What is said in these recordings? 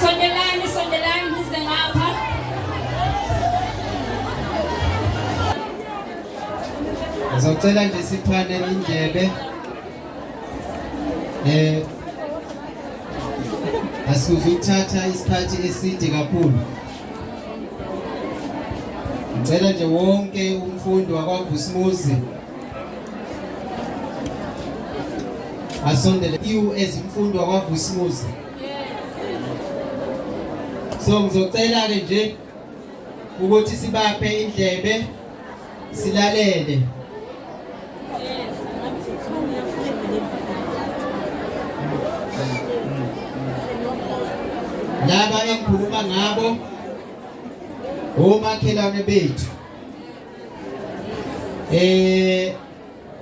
Sondelani, sondelani nize ngapha. Ngizocela nje siphane indlebe. Eh Asizuthatha isikhathi eside kakhulu. Ngicela nje wonke umfundi wakwaGusimuzi asondele you as imfundo kwaVusimuzi so ngizocela ke nje ukuthi sibaphe indlebe silalele laba engikhuluma ngabo omakhelwane bethu Eh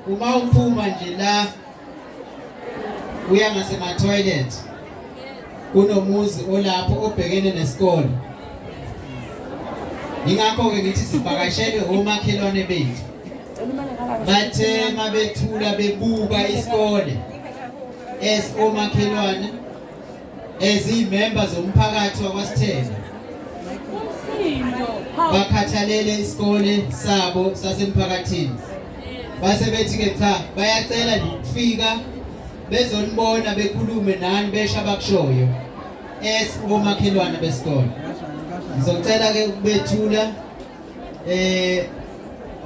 uma uphuma nje la uya ngasema toilet kunomuzi olapho obhekene nesikole ingakho-ke ngithi sivakashelwe omakhelwane bethu bathe mabethula bebuka isikole as omakhelwane eziyimemba zomphakathi wakwasithela bakhathalele isikole sabo sasemphakathini base bethi-ke cha bayacela nokufika bezonibona bekhulume nani besho abakushoyo es komakhelwane besikole ngizocela-ke ukubethula eh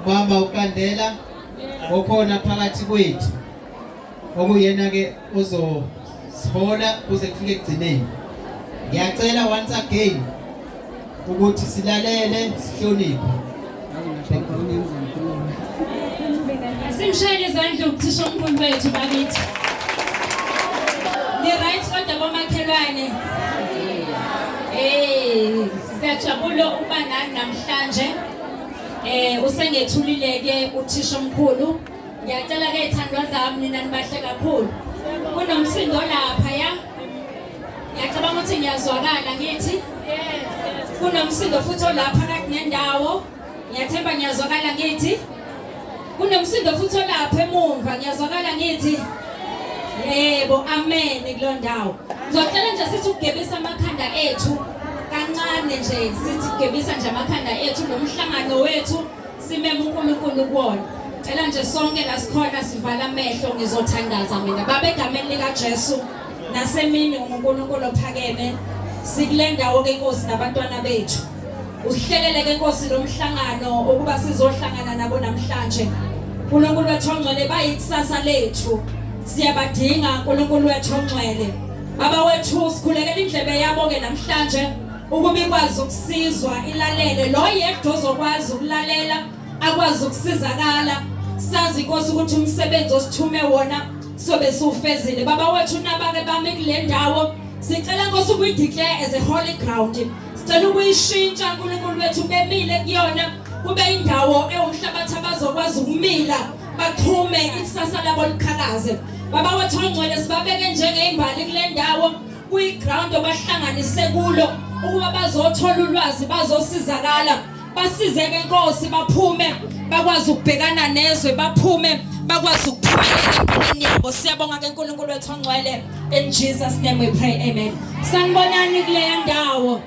mama uqandela okhona phakathi kwethu okuyena-ke ozosihola kuze kufike ekugcineni ngiyacela once again ukuthi silalele sihloniphe simshayele izandla ukuthisha umkhulu wethu bakithi ni-right kodwa komakhelwane um siyajabula ukuba nani namhlanje um usengethulile-ke uthisha omkhulu Ngiyacela ke ithandwa zami nina nibahle kakhulu. Kunomsindo lapha ya. Ngiyacabanga ukuthi ngiyazwakala ngithi. Kunomsindo futhi olapha kakunendawo. Ngiyathemba ngiyazwakala ngithi. Kunomsindo futhi olapha emuva ngiyazwakala ngithi. Yebo, amen kulo ndawo. Ngizocela nje sithi ukugebisa amakhanda ethu kancane nje sithi gebisa nje amakhanda ethu nomhlangano wethu simeme uNkulunkulu kuwona cela nje sonke la sikhona sivala amehlo ngizothandaza mina baba egameni likaJesu nasemini uNkulunkulu ophakeme sikule ndawo ke Nkosi nabantwana bethu uhlelele ke Nkosi lo mhlangano ukuba sizohlangana nabo namhlanje uNkulunkulu wethu ongcwele bayikusasa lethu siyabadinga uNkulunkulu wethu ongcwele baba wethu sikhulekela indlebe yabo ke namhlanje ukuba ikwazi ukusizwa ilalele lo yedwa ozokwazi ukulalela akwazi ukusizakala sazi inkosi ukuthi umsebenzi osithume wona sobe siwufezile baba wethu nabake bami kule ndawo sicela nkosi ukuyideclare as a holy ground sicela ukuyishintsha uNkulunkulu wethu bemile kuyona kube indawo ewumhlabathi abazokwazi ukumila bachume ikusasa labo liqhakaze baba wethu ongcwele sibabeke njengeimbali kule ndawo kuyiground obahlanganise kulo ukuba bazothola ulwazi bazosizakala basizeke nkosi baphume bakwazi ukubhekana nezwe baphume bakwazi ukuphumelela empilweni yabo siyabonga ke uNkulunkulu wethu ongcwele in Jesus name we pray amen sanibonani kuleya ndawo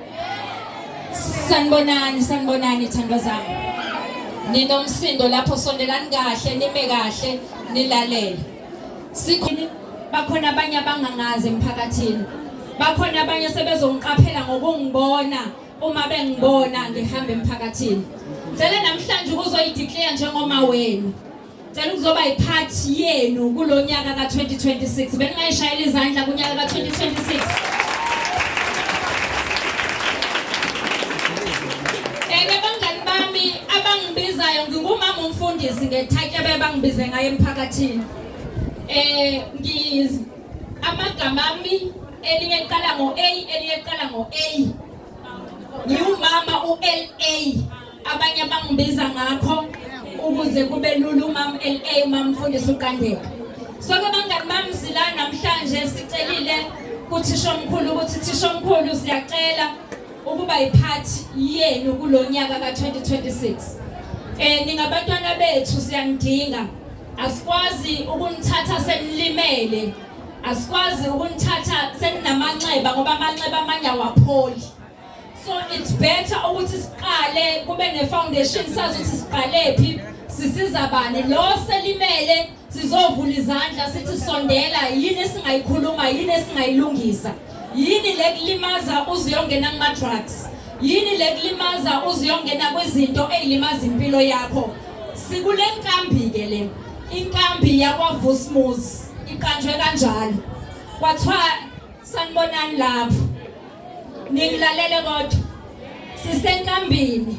sanibonani sanibonani thandwa zami ninomsindo lapho sondelani kahle nime kahle nilalele sikhona bakhona abanye abangangazi emphakathini bakhona abanye sebezongiqaphela ngokungibona uma bengibona ngihamba emphakathini ngicela namhlanje ukuzoyideclare njengoma wenu ngicela ukuzoba yipart yenu kulo nyaka ka-2026 bengingayishayela izandla kunyaka ka-2026 enye abangani bami abangibizayo ngingumama umfundisi ngethatya bebangibize ngayo emphakathini eh ngiyizi amagama ami elinye liqala ngo-a elinye liqala ngo-a ngiwumama u-la abanye bangibiza ngakho ukuze kube lula umam la umam mfundisi uqandeka soke bangani bami sila namhlanje sicelile kuthishomkhulu ukuthi thishomkhulu siyacela ukuba yiphathi yenu kulo nyaka ka-2026 eh ningabantwana bethu siyanidinga asikwazi ukunithatha senilimele asikwazi ukunithatha seninamanxeba ngoba amanxeba amanye awapholi so it's better ukuthi siqale kube ne-foundation sazi ukuthi siqalephi sisiza bani lo selimele sizovula izandla sithi sondela yini esingayikhuluma yini esingayilungisa yini le kulimaza uziyongena kuma-drugs yini le kulimaza uziyongena kwizinto ey'limaza impilo yakho sikule nkambi-ke le inkambi yakwavusmus iqanjwe kanjalo kwathiwa sanibonani lapho ningilalele kodwa sisenkambini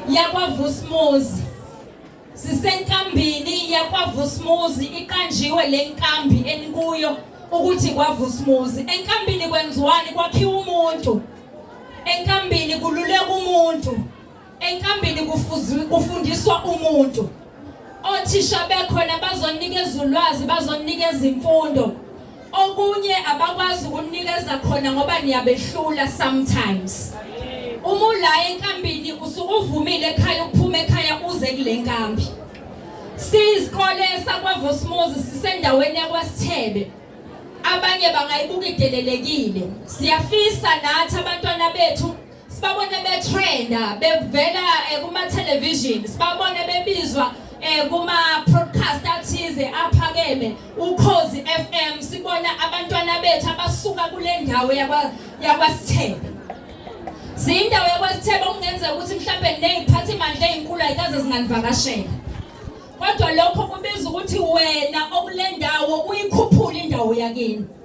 yakwavusmuzi Sisenkambini yakwaVusmuzi iqanjiwe le nkambi enikuyo ukuthi kwaVusmuzi. Enkambini kwenziwani kwakhiwa umuntu. Enkambini kululeka umuntu. Enkambini kufundiswa umuntu. Othisha bekhona bazonikeza ulwazi, bazonikeza imfundo. Okunye abakwazi ukunikeza khona ngoba niyabehlula sometimes. Uma ulaye enkambini usuke uvumile ekhaya ukuphuma ekhaya uze kule nkambi. Siyisikole sakwaVosmozi sisendaweni yakwaSithebe. Abanye bangayibuka idelelekile. Siyafisa nathi abantwana bethu sibabone betrenda bevela eh, kuma television sibabone bebizwa eh, kuma podcast athize aphakeme ukhozi FM sibona abantwana bethu abasuka kule ndawo yakwa yakwasithebe Zindawo yakwasithebe okungenzeka ukuthi mhlawumbe neziphatha imandla ezinkulu ayikaze zinganivakashela kodwa lokho kubiza ukuthi wena okulendawo uyikhuphule indawo yakini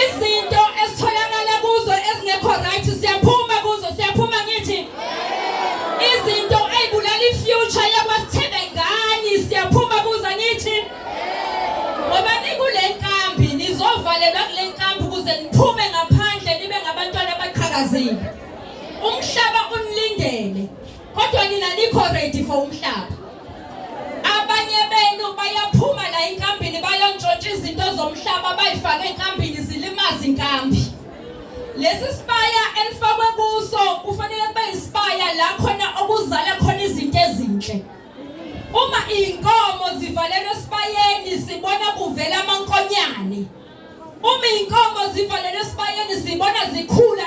izinto esitholakala kuzo ezingekho right siyaphuma kuzo siyaphuma ngithi izinto eyibulala ifuture yakwasithebe ngani siyaphuma kuzo ngithi ngoba nikule nkambi nizovalelwa kule nkambi ukuze niphume ngaphandle nibe ngabantwana abaqhakazile umhlaba unilindele Kodwa nina nikho ready for umhlaba. Abanye benu bayaphuma la inkambini bayontshontsha izinto zomhlaba bayifake enkambini zilimaza inkambi. Lesi sibaya elifakwe kuso kufanele kube isibaya la khona okuzala khona izinto ezinhle. Uma inkomo zivalelwe esibayeni sibona kuvela amankonyane. Uma inkomo zivalelwe esibayeni sibona zikhula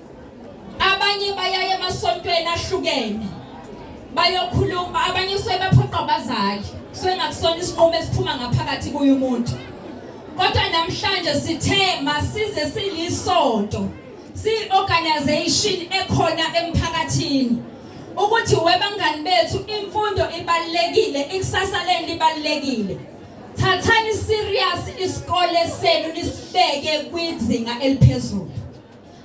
abanye bayaye emasontweni ahlukene bayokhuluma abanye kusuke bephoqa abazali kusuke ngakusona isinqumo esiphuma ngaphakathi kuye umuntu kodwa namhlanje sithe masize silisonto si-organization ekhona emphakathini ukuthi webangani bethu imfundo ibalekile ikusasa leni libalekile thathani serious isikole senu nisibeke kwizinga eliphezulu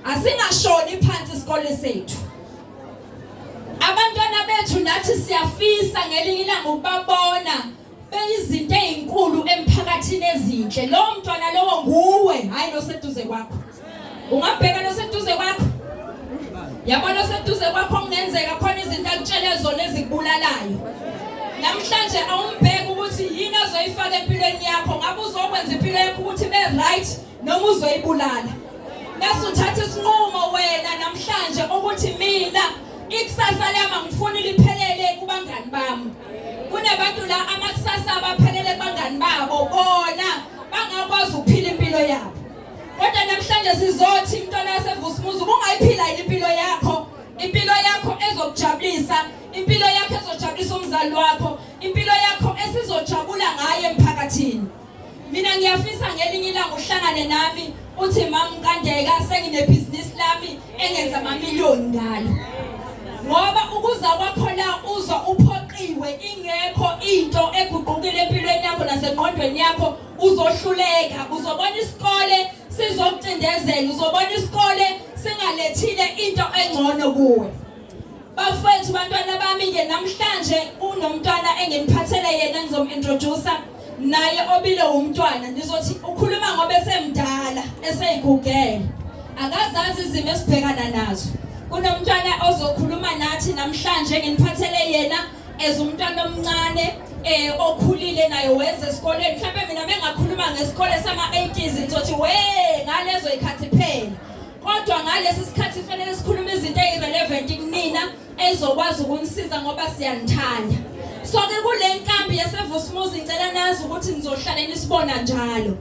Asingashoni phansi isikole sethu. Abantwana bethu nathi siyafisa ngelinye ilanga ukubabona beyizinto ezinkulu emphakathini ezinhle. Lo mntwana lowo nguwe, hayi noseduze kwakho. Ungabheka noseduze kwakho. Yabona oseduze kwakho kungenzeka khona izinto akutshele zona ezikubulalayo. Namhlanje awumbheki ukuthi yini ozoyifaka empilweni yakho. Ngabe uzokwenza impilo yakho ukuthi be right noma uzoyibulala bese uthatha isinqumo wena namhlanje ukuthi mina ikusasa lami angifuni liphelele kubangani bami kunabantu la amakusasa abaphelele kubangani babo bona bangakwazi ukuphila impilo yabo kodwa namhlanje sizothi mntwana yasevusimuzi ubungayiphila yini impilo yakho impilo yakho ezokujabulisa impilo yakho ezojabulisa umzali wakho impilo yakho esizojabula ngayo emphakathini mina ngiyafisa ngelinye ilanga uhlangane nami uthi mama Nkandeka senginebhizinisi lami engenza amamiliyoni ngalo ngoba ukuza kwakho la uzwa uphoqiwe ingekho into eguqukile empilweni yakho nasengqondweni yakho uzohluleka uzobona isikole sizokucindezela uzobona isikole singalethile into engcono kuwe bafowethu bantwana bami-ke namhlanje unomntwana enginiphathele yena ngizomu-introdusa naye obile wumntwana nizothi ukhuluma ngoba esemdala eseyigugele akazazi izimo esibhekana nazo kunomntwana ozokhuluma nathi namhlanje enginiphathele yena as umntwana omncane eh okhulile naye wenze esikoleni mhlawumbe mina mengakhuluma ngesikole sama 80s ngizothi we ngalezo ikhathi phela Kodwa ngalesi sikhathi fanele sikhulume izinto ezirelevant kunina ezokwazi ukunisiza ngoba siyanithanda. So ke kule nkambi yaseVusmuzi ngicela nazi ukuthi nizohlale nisibona njalo.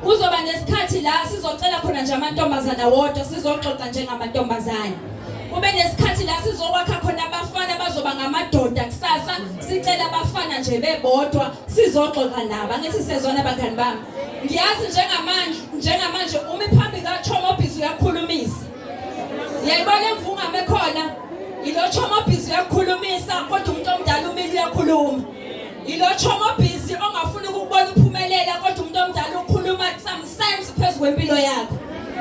Kuzoba nesikhathi la sizocela khona nje amantombazana wodwa sizoxoxa njengamantombazana. Kube nesikhathi la sizokwakha khona abafana bazoba ngamadoda kusasa sicela abafana nje bebodwa sizoxoxa nabo. Angithi sezona bangani bami. ngiyazi njengamanje njengamanje umi phambi kaThomobhizi uyakhulumisa yayibona imvungame khona yilo Thomobhizi uyakhulumisa kodwa umuntu omdala umile uyakhuluma yilo Thomobhizi ongafuni ukubona uphumelela kodwa umuntu omdala ukhuluma sometimes phezulu kwempilo yakho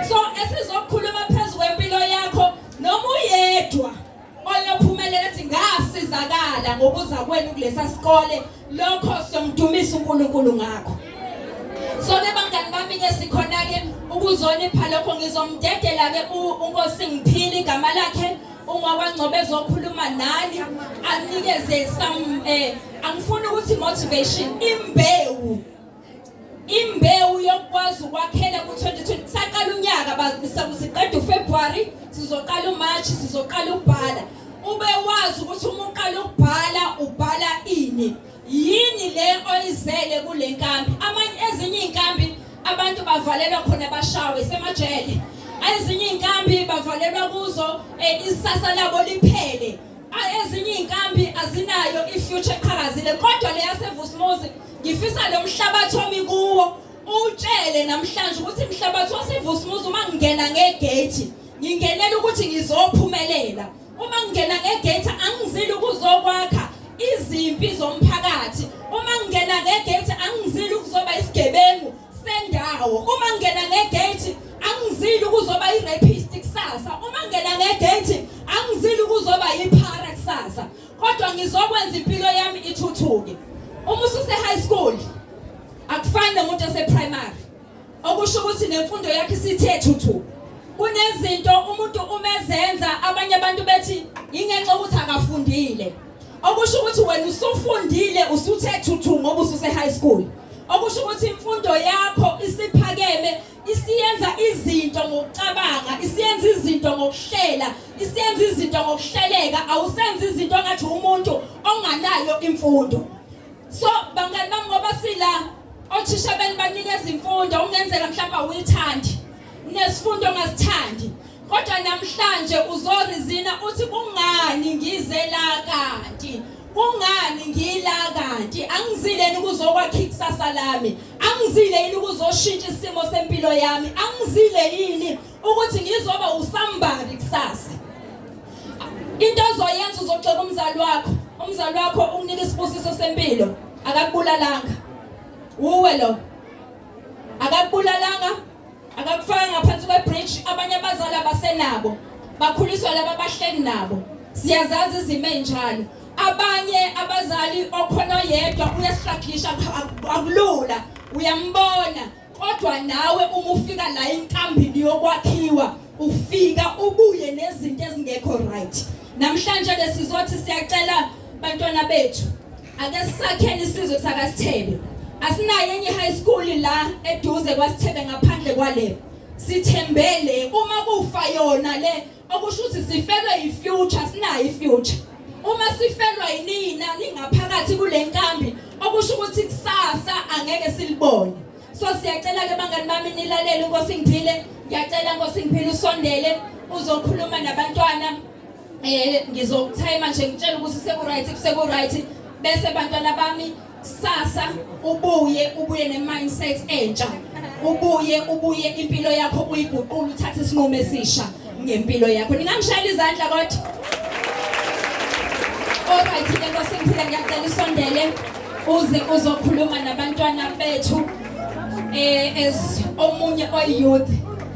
so esizokhuluma phezulu kwempilo yakho noma uyedwa oyophumelela ethi ngasizakala ngokuza kwenu kulesa sikole lokho somdumisa uNkulunkulu ngakho so ke bangani bami ke sikhona ke ukuzonipha lokho ngizomdedela ke unkosi ngiphile igama lakhe uma kwangcobe ezokhuluma nani anikeze some eh angifuni ukuthi motivation imbewu Imbewu yokwazi ukwakhela ku-2020 saqala unyaka bazisa ukuthi qeda uFebruary sizoqala uMarch sizoqala ukubhala ube wazi ukuthi uma uqala ukubhala ubhala ini yini le oyizele kule nkambi amanye ezinye iy'nkambi abantu bavalelwa khona bashawe semajele ezinye iy'nkambi bavalelwa kuzo um isasa labo liphele Ezinye izinkambi azinayo ifuture eqhakazile kodwa leyasevusmuzi ngifisa lo mhlabathi omi kuwo utshele namhlanje ukuthi mhlabathi wasevusmuzi uma ngingena ngegate ngingenela ukuthi ngizophumelela uma ngingena ngegate angizile ukuzokwakha izimpi zomphakathi uma ngingena ngegate angizile ukuzoba isigebengu sendawo uma ngena ngegate angizili ukuzoba irapist kusasa uma ngena ngegate angizili ukuzoba yiphara kusasa kodwa ngizokwenza impilo yami ithuthuke uma ususe high school akufani nomuntu ose primary okusho ukuthi nemfundo yakhe isithe thuthu kunezinto umuntu umezenza abanye abantu bethi ingenxa ukuthi akafundile okusho ukuthi wena usufundile usuthe thuthu ngoba ususe high school okusho ukuthi imfundo yakho isiphakeme isiyenza izinto ngokucabanga isiyenza izinto ngokuhlela isiyenza izinto ngokuhleleka awusenza izinto ngathi umuntu onganayo imfundo so bangani bami ngoba sila othisha benibanikeza imfundo ungenzeka mhlawumbe awuyithandi Nesifundo ngasithandi. Kodwa namhlanje uzorizina uthi kungani ngize la kanti kungani ngila kanti angizile yini kuzokwakha ikusasa lami angizile yini kuzoshintsha isimo sempilo yami angizile yini ukuthi ngizoba usambari kusasa into ozoyenza uzoxoka umzali wakho umzali wakho ukunika isibusiso sempilo akakubulalanga uwe lo akakubulalanga akakufaka ngaphansi kwebridge abanye abazali abasenabo bakhuliswa laba abahleli nabo siyazazi izimo enjalo abanye abazali okhona yedwa uyasihlakisha akulula uyambona kodwa nawe uma ufika la inkambini yokwakhiwa ufika ubuye nezinto ezingekho right namhlanje ke sizothi siyacela bantwana bethu Ake sisakhele isizwe sakaSithebe. Asinayo enye high school la eduze kwaSithebe ngaphandle kwale. Sithembele uma kufa yona le okusho ukuthi sifelwe yifuture sinayo ifuture. Uma sifelwa yinina ningaphakathi kule nkambi okusho ukuthi kusasa angeke silibone. So siyacela ke bangani bami nilalele uNkosi ngiphile. Ngiyacela Nkosi ngiphile usondele uzokhuluma nabantwana Eh ngizokuthayima nje ngitshela ukuthi seku-right seku-right bese bantwana bami sasa ubuye ubuye ne-mindset entsha ubuye ubuye impilo yakho uyiguqula uthathe isinqumo esisha ngempilo yakho ningangishayela izandla kodwa Alright ke Nkosi ngiphila ngiyacela usondele uze uzokhuluma nabantwana bethu eh as omunye oyouth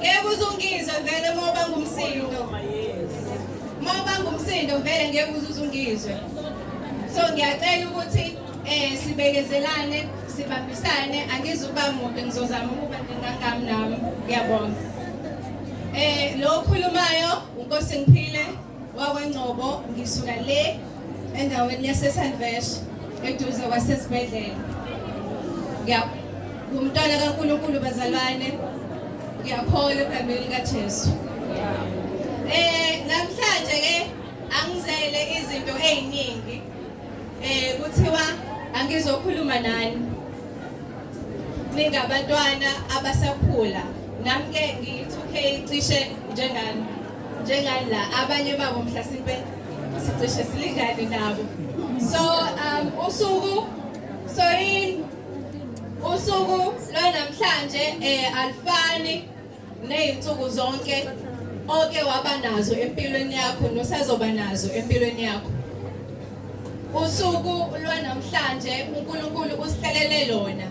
Ngeke uzungizwe vele uma uba ngumsindo. Uma uba ngumsindo vele ngeke uzuzungizwe. So ngiyacela ukuthi eh sibekezelane, sibambisane, angizuba mude ngizozama ukuba ngingangami nami. Ngiyabonga. Eh lo okhulumayo uNkosi ngiphile wakwengcobo ngisuka le endaweni yasesalvesh eduze kwasesibhedlela ngumntwana kankulunkulu bazalwane ngiyakholwa egameni likajesu um eh, namhlanje ke angizele izinto ey'ningi um kuthiwa angizokhuluma nani ningabantwana abasakhula nami ke ngiyi-2k cishe njengani njengani la abanye babo mhlasimpe sicishe silingane nabo so um usuku sorry usuku lwanamhlanje eh alifani nezinsuku zonke oke waba nazo empilweni yakho nosazoba nazo empilweni yakho usuku lwanamhlanje uNkulunkulu usihlelele lona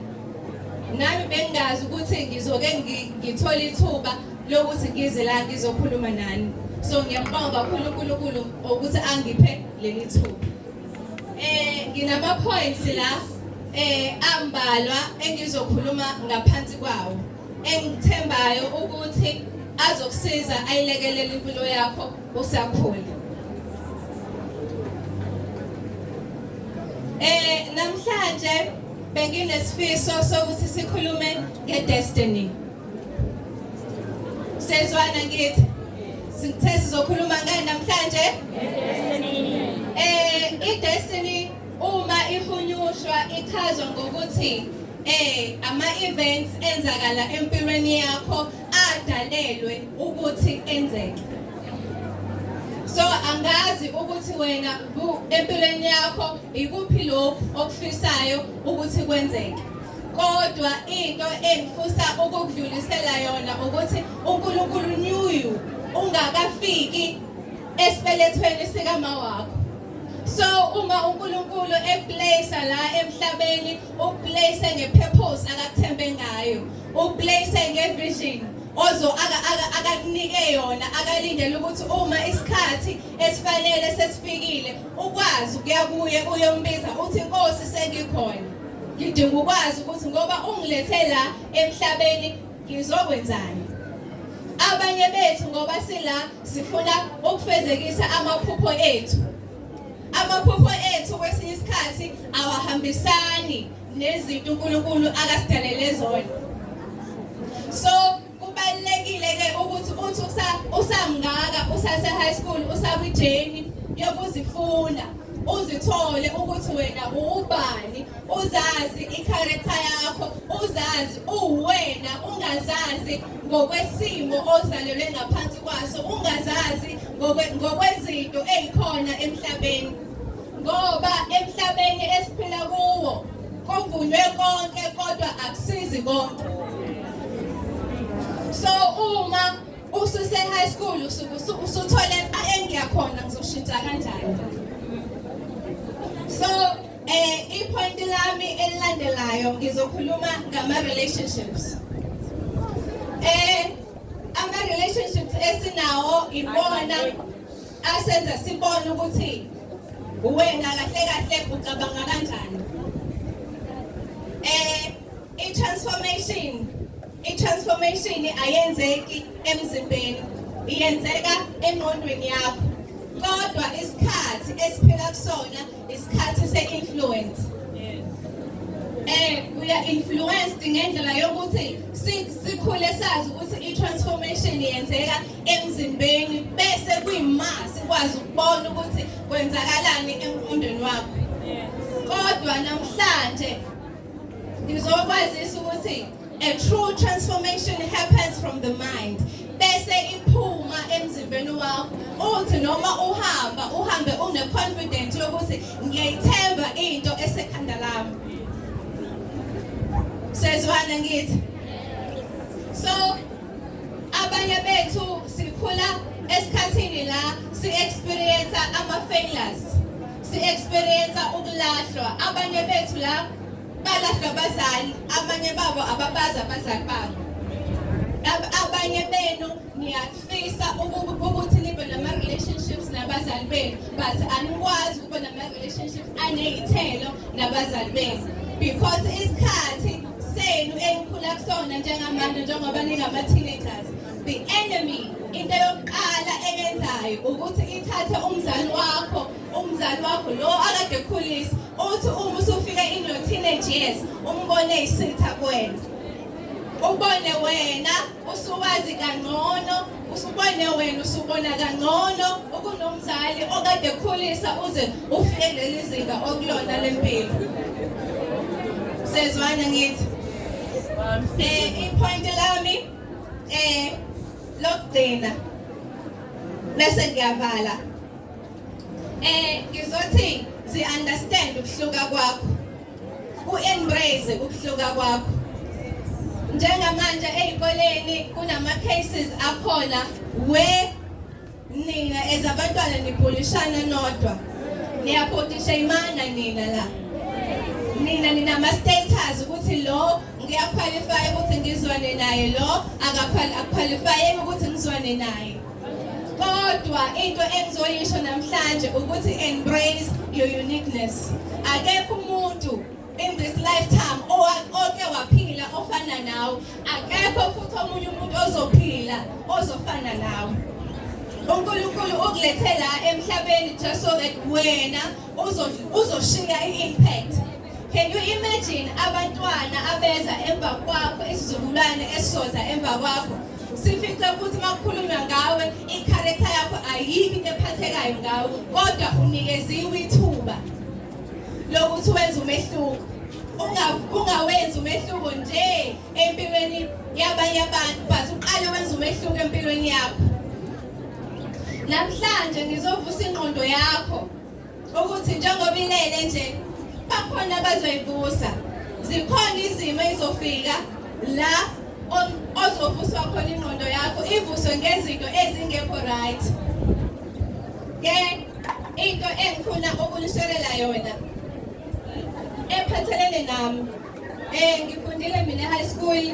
nami bengazi ukuthi ngizoke ngithola ithuba lokuthi ngize la ngizokhuluma nani so ngiyambonga kakhulu uNkulunkulu ukuthi angiphe leli thuba eh nginama points la eh ambalwa engizokhuluma ngaphansi kwawo engithembayo ukuthi azokusiza ayilekelele impilo yakho usakhula eh namhlanje benginesifiso sokuthi sikhulume ngedestiny Sezwana ngithi sithe sizokhuluma ngani namhlanje? Eh i-destiny uma ihunyushwa ichazwa ngokuthi eh ama events enzakala empilweni yakho adalelwe ukuthi enzeke so angazi ukuthi wena empilweni yakho ikuphi lokhu okufisayo ukuthi kwenzeke kodwa into engifusa ukukudlulisela yona ukuthi uNkulunkulu knew you ungakafiki esibelethweni sikama wakho so uma uNkulunkulu eplace la emhlabeni uplace ngepurpose akakuthembe ngayo uplace ngevision ozo akakunike yona akalindele ukuthi uma isikhathi esifanele sesifikile ukwazi ukuya kuye uyombiza uthi inkosi sengikhona Ngidinga ukwazi ukuthi ngoba ungilethe la emhlabeni ngizokwenzani. Abanye bethu ngoba sila sifuna ukufezekisa amaphupho ethu. Amaphupho ethu kwesinye isikhathi awahambisani nezinto uNkulunkulu akasidalele zona. So Kubalulekile-ke ukuthi uthi usamngaka usase-high school usakwijeni yokuzifunda uzithole ukuthi wena uwubani uzazi ikharektha yakho uzazi uwena ungazazi ngokwesimo ozalelwe ngaphansi kwaso ungazazi ngokwezinto ezikhona emhlabeni ngoba emhlabeni esiphila kuwo Kuvunywe konke kodwa akusizi konke. So uma ususe high school usuke usuthole engiya khona ngizoshintsha kanjani. So eh ipoint lami elilandelayo ngizokhuluma ngama relationships. Eh ama relationships esinawo ibona asenze sibone ukuthi wena kahle kahle ucabanga kanjani eh i-transformation i-transformation ayenzeki emzimbeni iyenzeka engqondweni yakho kodwa isikhathi esiphila kusona isikhathi se-influence eh uya influenced ngendlela yokuthi sikhule sazi ukuthi i-transformation yenzeka emzimbeni bese kuyima sikwazi ukubona ukuthi kwenzakalani emqondweni wakho kodwa namhlanje ngizokwazisa ukuthi a true transformation happens from the mind bese iphuma emzimbeni wakho uthi noma uhamba uhambe une confidence yokuthi ngiyayithemba into esekhanda lami sezwana ngithi so abanye bethu sikhula esikhathini la si-experience ama-failures si-experience ukulahlwa abanye bethu la balahlwa abazali abanye babo ababazi abazali babo abanye benu niyafisa ukuthi nibe nama-relationships nabazali benu but anikwazi ukuba nama-relationships aney'thelo nabazali benu because isikhathi senu enikhula kusona njengamanje njengoba ningama-teenagers the enemy into yokuqala eyenzayo ukuthi ithathe umzali wakho umzali wakho lo akade ekhulisa uthi uma usufike in your teenage years umbone isitha kwena ubone wena usuwazi kangcono usubone wena usubona kangcono ukunomzali okade khulisa uze ufike leli zinga okulona lempilo sezwana ngithi eh ipoint lami eh lokugcina bese ngiyavala eh ngizothi si understand ukuhluka kwakho U-embrace ukuhluka kwakho. Njengamanje ezikoleni kunama cases akhona we nina ezabantwana nibhulishana nodwa. Niyaphotisha imana nina la. Nina ninama status ukuthi lo ngiyaqualify ukuthi ngizwane naye lo akaqualify ukuthi ngizwane naye. kodwa into engizoyisho namhlanje ukuthi embrace your uniqueness akekho umuntu in this lifetime oke waphila ofana nawe akekho futhi omunye umuntu ozophila ozofana nawe uNkulunkulu ukulethe la emhlabeni just so that wena uzoshiya i-impact Can you imagine abantwana abeza emva kwakho isizukulwane esizoza emva kwakho sifice ukuthi uma kukhulunywa ngawe ikharektha yakho ayikho into ephathekayo ngawe kodwa unikeziwe ithuba lokuthi wenze umehluko ungawenzi umehluko nje empilweni yabanye abantu but uqale wenza umehluko empilweni yakho namhlanje ngizovusa ingqondo yakho ukuthi njengoba ilele nje bakhona abazoyibusa zikhona izimo ezofika la ozovuswa khona ingqondo yakho ivuswe ngezinto ezingekho right ke into engifuna ukunishelela yona ephathelene nami Eh ngifundile mina high school.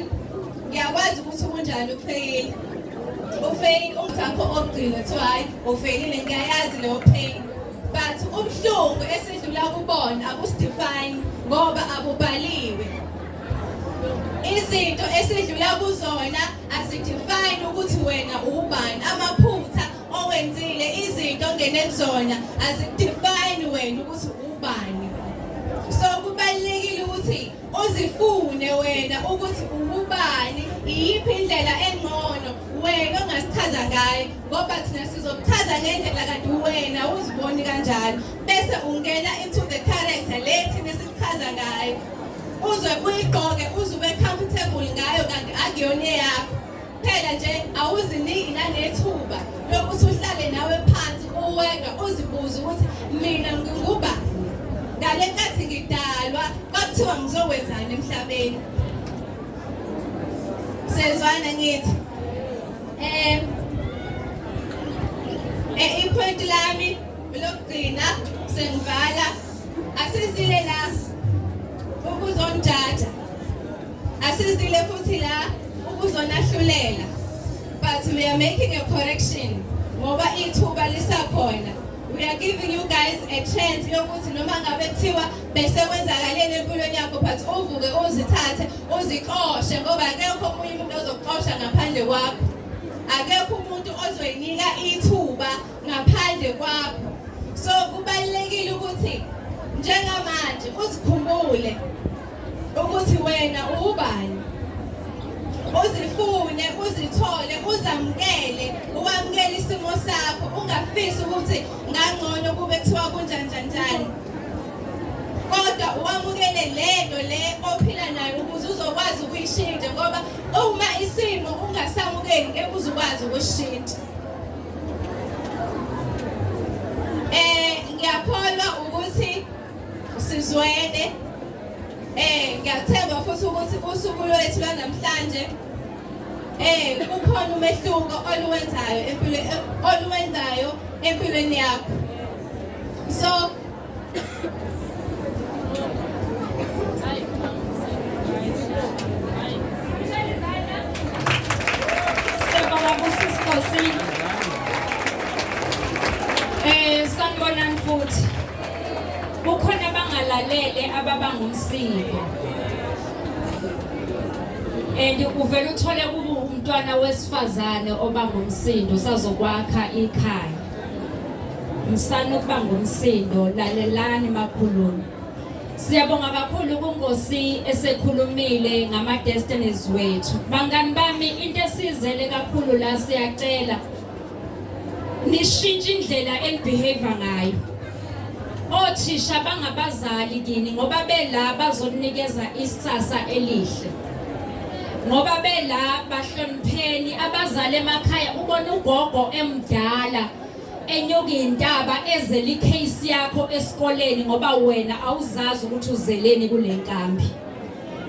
Ngiyakwazi ukuthi kunjani ukufeyila. Ufeyila umthakho ogcina kuthiwa hayi ufeyilile ngiyayazi leyo pain. But ubuhlungu esidlula kubona akusidefine ngoba abubhaliwe. Izinto esidlula kuzona azidefine ukuthi wena ubani amaphupho Okwenzile izinto ongene kuzona azikudefine wena ukuthi ubani. So kubalekile ukuthi uzifune wena ukuthi ubani iyiphi indlela engcono wena ongasichaza ngayo ngoba thina sizokuchaza ngendlela kanti wena uziboni kanjalo bese ungena into the character le thina sikuchaza ngayo uze uyigqoke uze ube comfortable ngayo kanti akuyona eyakho Phela nje awuziniki nanethuba lokuthi uhlale nawe phansi uweka uzibuze ukuthi mina nginguba ngale nkathi ngidalwa kwakuthiwa ngizokwenzani emhlabeni. Sezwana ngithi eh eh ipoint lami lokugcina sengivala asizile la ukuzonjaja Asizile futhi la ukuzonahlulela but we are making a correction ngoba ithuba lisakhona we are giving you guys a chance yokuthi noma ngabe kuthiwa bese kwenzakaleni empilweni yakho but uvuke uzithathe uzixoshe ngoba akekho omunye umuntu ozokuxosha ngaphandle kwakho akekho umuntu ozoyinika ithuba ngaphandle kwakho so kubalulekile ukuthi njengamanje uzikhumbule ukuthi wena uwubani uzifune uzithole uzamukele uwamukele isimo sakho ungafisi ukuthi ngangcono kube kuthiwa kunjanjanjani kodwa uwamukele lento le ophila nayo ukuze uzokwazi ukuyishintsha ngoba uma isimo ungasamukeli ngeke uzukwazi ukushintsha Sizwele eh ngiyathemba futhi ukuthi usuku lwethu lwanamhlanje eh kukhona umehluko oluwenzayo empilo oluwenzayo empilweni yakho so Eh, sanibonani futhi kukhona abangalalele ababa ngumsindo and uvele uthole kuba umntwana wesifazane oba ngumsindo sazokwakha ikhaya msana ukuba ngumsindo lalelani makhulumi Siyabonga kakhulu kunkosi esekhulumile ngama destinies wethu. Bangani bami into esizele kakhulu la siyacela nishintshe indlela enibehave ngayo othisha bangabazali kini ngoba bela bazokunikeza isasa elihle ngoba bela bahlonipheni abazali emakhaya ubona ugogo emdala enyuka intaba ezele icase yakho esikoleni ngoba wena awuzazi ukuthi uzeleni kule nkambi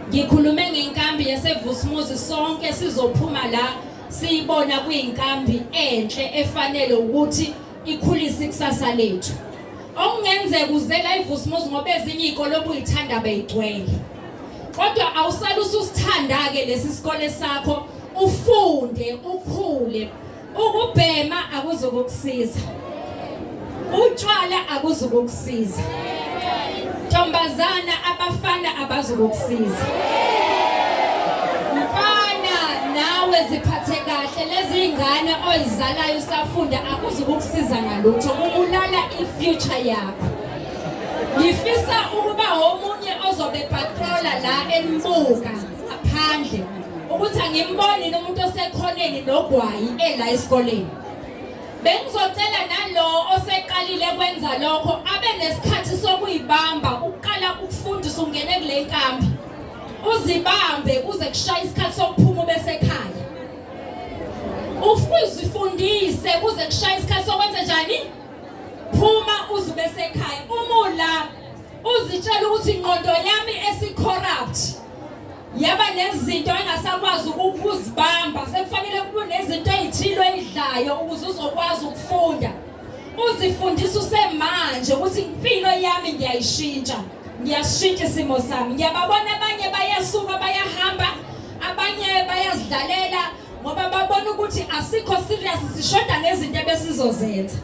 ngikhulume ngenkambi yasevusmuzi sonke sizophuma la Siyibona kuyinkambi enhle efanele ukuthi ikhulise ikusasa lethu. Okungenzeka uzela iVusmuzi ngoba ezinye izikole obuyithanda beyigcwele. Kodwa awusale ususithanda-ke lesi sikole sakho ufunde ukhule ukubhema akuzokukusiza Utshwala akuzukukusiza. Ntombazana abafana abazukukusiza. Mfana nawe ziphathe kahle lezi ingane oyizalayo usafunda akuzukukusiza ngalutho kubulala i-future yakho. Ngifisa ukuba omunye ozobe patroller la embuka ngaphandle ukuthi angimboni nomuntu osekhoneni nogwayi ela esikoleni. Bengizocela nalowo oseqalile kwenza lokho abe nesikhathi sokuyibamba ukuqala ukufundisa ungene kule nkambi. Uzibambe kuze kushaye isikhathi sokuphuma bese ekhaya. Ufuzifundise kuze kushaye isikhathi sokwenza njani? Phuma uzibe sekhaya. Uma ula uzitshela ukuthi ingqondo yami esicorrupt yaba nezinto engasakwazi ukuzibamba sekufanele kube nezinto ezithile oyidlayo ukuze uzokwazi ukufunda uzifundisa usemanje ukuthi impilo yami ngiyayishintsha ngiyashintsha isimo sami ngiyababona abanye bayasuka bayahamba abanye bayazidlalela ngoba babona ukuthi asikho serious sishoda ngezinto ebesizozenza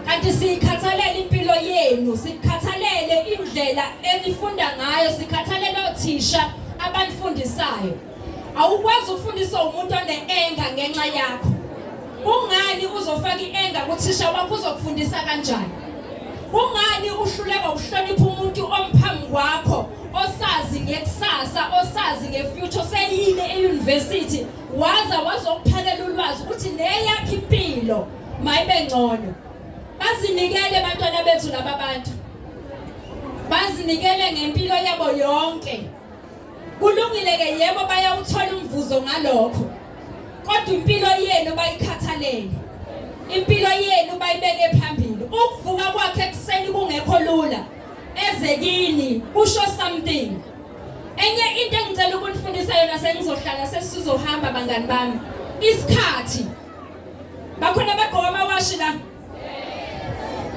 kanti siyikhathalela impilo yenu sikhathalele indlela enifunda ngayo sikhathalele othisha abanifundisayo awukwazi ukufundisa umuntu one-enga ngenxa yakho kungani uzofaka i-enga kuthisha wakho uzokufundisa kanjani kungani uhluleka ukuhlonipha umuntu omphambi kwakho osazi ngekusasa osazi ngefuture seyile eyunivesithi waza wazokuphakela ulwazi ukuthi neyakhe impilo Mayibe ngcono. Bazinikele abantwana bethu laba bantu. Bazinikele ngempilo yabo yonke. Kulungile ke yebo bayawuthola umvuzo ngalokho. Kodwa impilo yenu bayikhathalele. Impilo yenu bayibeke phambili. Ukuvuka kwakhe ekuseni kungekho lula. Eze kini usho something. Enye into engicela ukunifundisa yona sengizohlala sesizohamba bangani bami. Isikhathi Bakhona abagqoka amawashi la.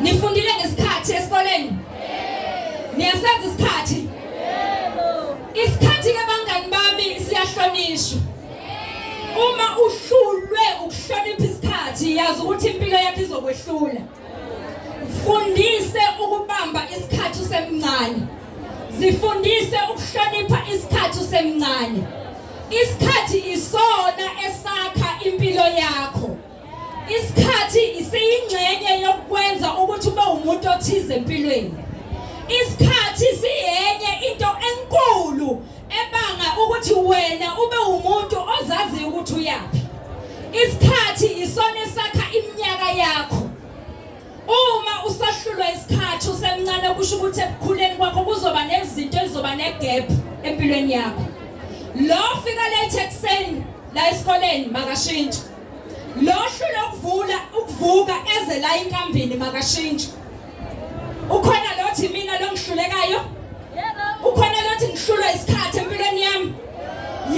Nifundile ngesikhathi esikoleni? Niyasazi isikhathi? Isikhathi ke bangani bami siyahlonishwa. Uma uhlulwe ukuhlonipha isikhathi yazi ukuthi impilo yakho izokwehlula. Fundise ukubamba isikhathi usemncane. Zifundise ukuhlonipha isikhathi usemncane. Isikhathi isona esakha impilo yakho. Isikhathi isiyingxenye yokwenza ukuthi ube umuntu othize empilweni. Isikhathi siyenye into enkulu ebanga ukuthi wena ube umuntu ozaziyo ukuthi uyaphi isikhathi isona esakha iminyaka yakho uma usahlulwa isikhathi usemncane kusho ukuthi ekukhuleni kwakho kuzoba nezinto ezizoba negap empilweni yakho lo fika late ekuseni la esikoleni makashintshi lo hlule ukuvula ukuvuka eze la inkambini makashintshi ukhona lothi mina longihlulekayo ukhona lothi ngihlulwa isikhathi empilweni yami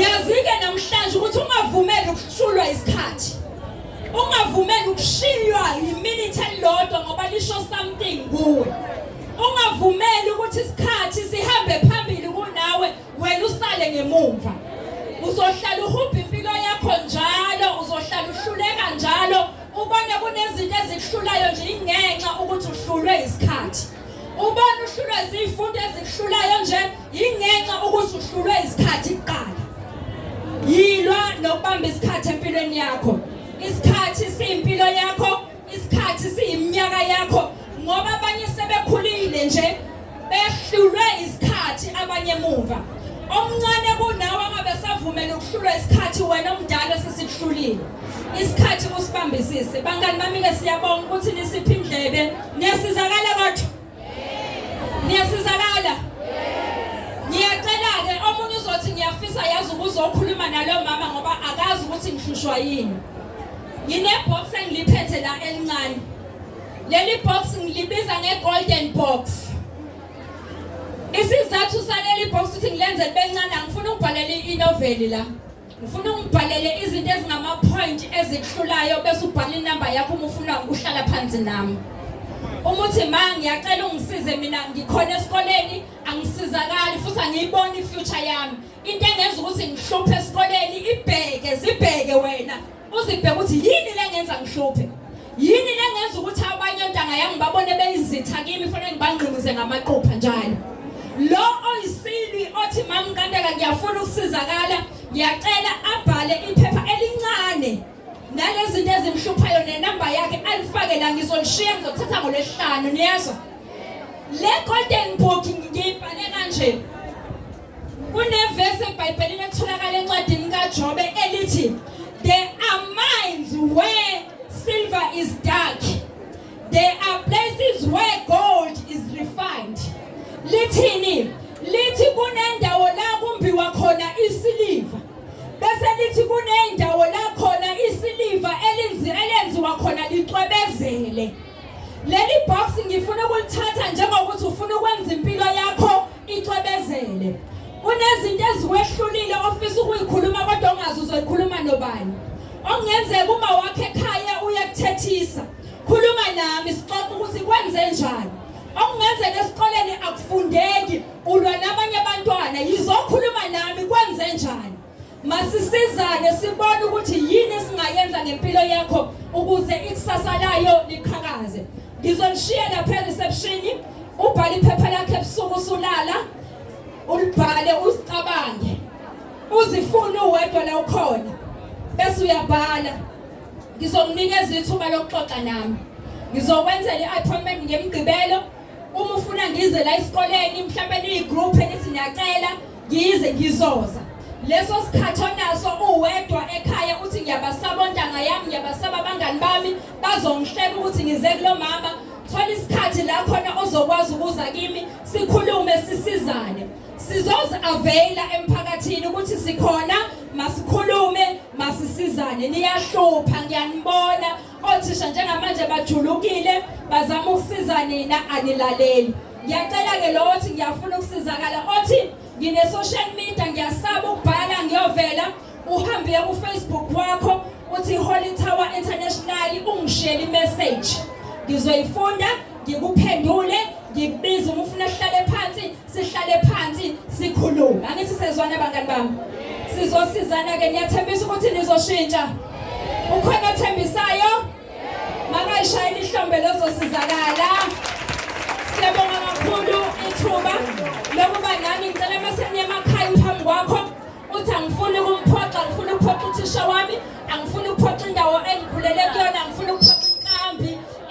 yazike namhlanje ukuthi ungavumeli ukuhlulwa isikhathi ungavumeli ukushiywa yiminute elilodwa ngoba lisho something kuwe ungavumeli ukuthi isikhathi sihambe phambili kunawe wena usale ngemumva uzohlala uhubha impilo yakho njalo uzohlala uhluleka njalo Ubone kunezinto ezikuhlulayo nje ingenxa ukuthi uhlulwe isikhathi. Ubone uhlulwe izifundo ezikuhlulayo nje ingenxa ukuthi uhlulwe isikhathi kuqala. Yilwa nokubamba isikhathi empilweni yakho. Isikhathi siyimpilo yakho, isikhathi siyiminyaka yakho ngoba abanye sebekhulile nje behlulwe isikhathi abanye emuva omncane kunawe angabe savumela ukuhlulwa isikhathi wena omdala sesikuhlulile isikhathi kusibambisise bangani bami-ke siyabonga ukuthi nisiphi indlebe niyasizakala kodwa niyasizakala ngiyacela-ke omunye uzothi ngiyafisa yazi ukuze okhuluma naloyo mama ngoba akazi ukuthi ngihlushwa yini nginebhox engiliphethe la elincane Leli box ngilibiza nge golden box. Isizathu saleli box ukuthi ngilenze libencane ngifuna ukubhalela inoveli la. Ngifuna ungibhalele izinto ezingama point ezihlulayo bese ubhala inamba yakho uma ufuna ukuhlala phansi nami. Uma uthi ma ngiyacela ungisize mina ngikhona esikoleni angisizakali futhi angiyiboni ifuture yami. Into engenza ukuthi ngihluphe esikoleni ibheke zibheke wena. Uzibheka ukuthi yini lengenza ngihluphe? Yini lengenza ukuthi abanye ontanga yami babone beyizitha kimi fanele ngibangqinize ngamaqupha njalo? Lo oyisilwi othi mama Nkandeka ngiyafuna ukusizakala, ngiyacela abhale iphepha elincane nalezinto ezimhluphayo nenamba yakhe alifake la ngizolishiya ngizothatha ngolesihlanu niyezwa? Le golden book ngiyibhale kanje. Kunevesi eBhayibhelini etholakala encwadini kaJobe elithi there are mines where silver is dark. There are places where gold is refined. Lithini? Lithi kunendawo la kumbiwa khona isiliva. Bese lithi kunendawo la khona isiliva elinzi elenziwa khona licwebezele. Leli box ngifuna ukulithatha njengokuthi ufuna ukwenza impilo yakho Icwebezele. Unezinto eziwehlulile ofisa ukuyikhuluma kodwa ongazi uzoyikhuluma nobani. Okungenzeka uma wakhe ekhaya uyakuthethisa. Khuluma nami sixoxe ukuthi kwenze njani. Okungenzeka esikoleni akufundeki ulwa nabanye abantwana yizokhuluma nami kwenze njani. Masisizane sibone ukuthi yini esingayenza ngempilo yakho ukuze ikusasa layo liqhakaze. Ngizonishiya lapha reception ubhale iphepha lakhe ebusuku usulala ulibhale usicabange. Uzifuna uwedwa la ukhona bese uyabhala. Ngizokunikeza ithuba lokuxoxa nami. Ngizokwenzela i-appointment ngemgqibelo uma ufuna ngize la esikoleni mhlawumbe niyi-group enithi niyacela Yize ngizoza leso sikhathi onaso uwedwa ekhaya uthi ngiyabasaba ontanga yami ngiyabasaba abangani bami bazongihleka ukuthi ngize kulo mama thola isikhathi la khona ozokwazi ukuza kimi sikhulume sisizane sizozi availa emphakathini ukuthi sikhona masikhulume masisizane niyahlupha ngiyanibona Othisha njengamanje bajulukile bazama ukusiza nina anilaleli. Ngiyacela ke lowo othi ngiyafuna ukusizakala othi ngine social media ngiyasaba ukubhala ngiyovela uhambe ku Facebook wakho uthi Holy Tower International ungishele message. Ngizoyifunda ngikuphendule ngikubiza uma ufuna uhlale phansi sihlale phansi sikhulume angithi sezwana bangani bami sizosizana ke niyathembisa ukuthi nizoshintsha ukhona othembisayo makayishayela ihlombe lozosizakala siyabonga kakhulu ithuba lokuba nami ngicela maseniye emakhaya phambi kwakho uthi angifuni ukumphoxa ngifuna ukuphoxa uthisha wami angifuni ukuphoxa indawo engikhulele kuyona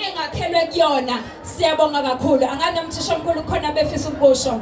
engakhelwe kuyona siyabonga kakhulu angane umthishomkhulu khona befisa ukusho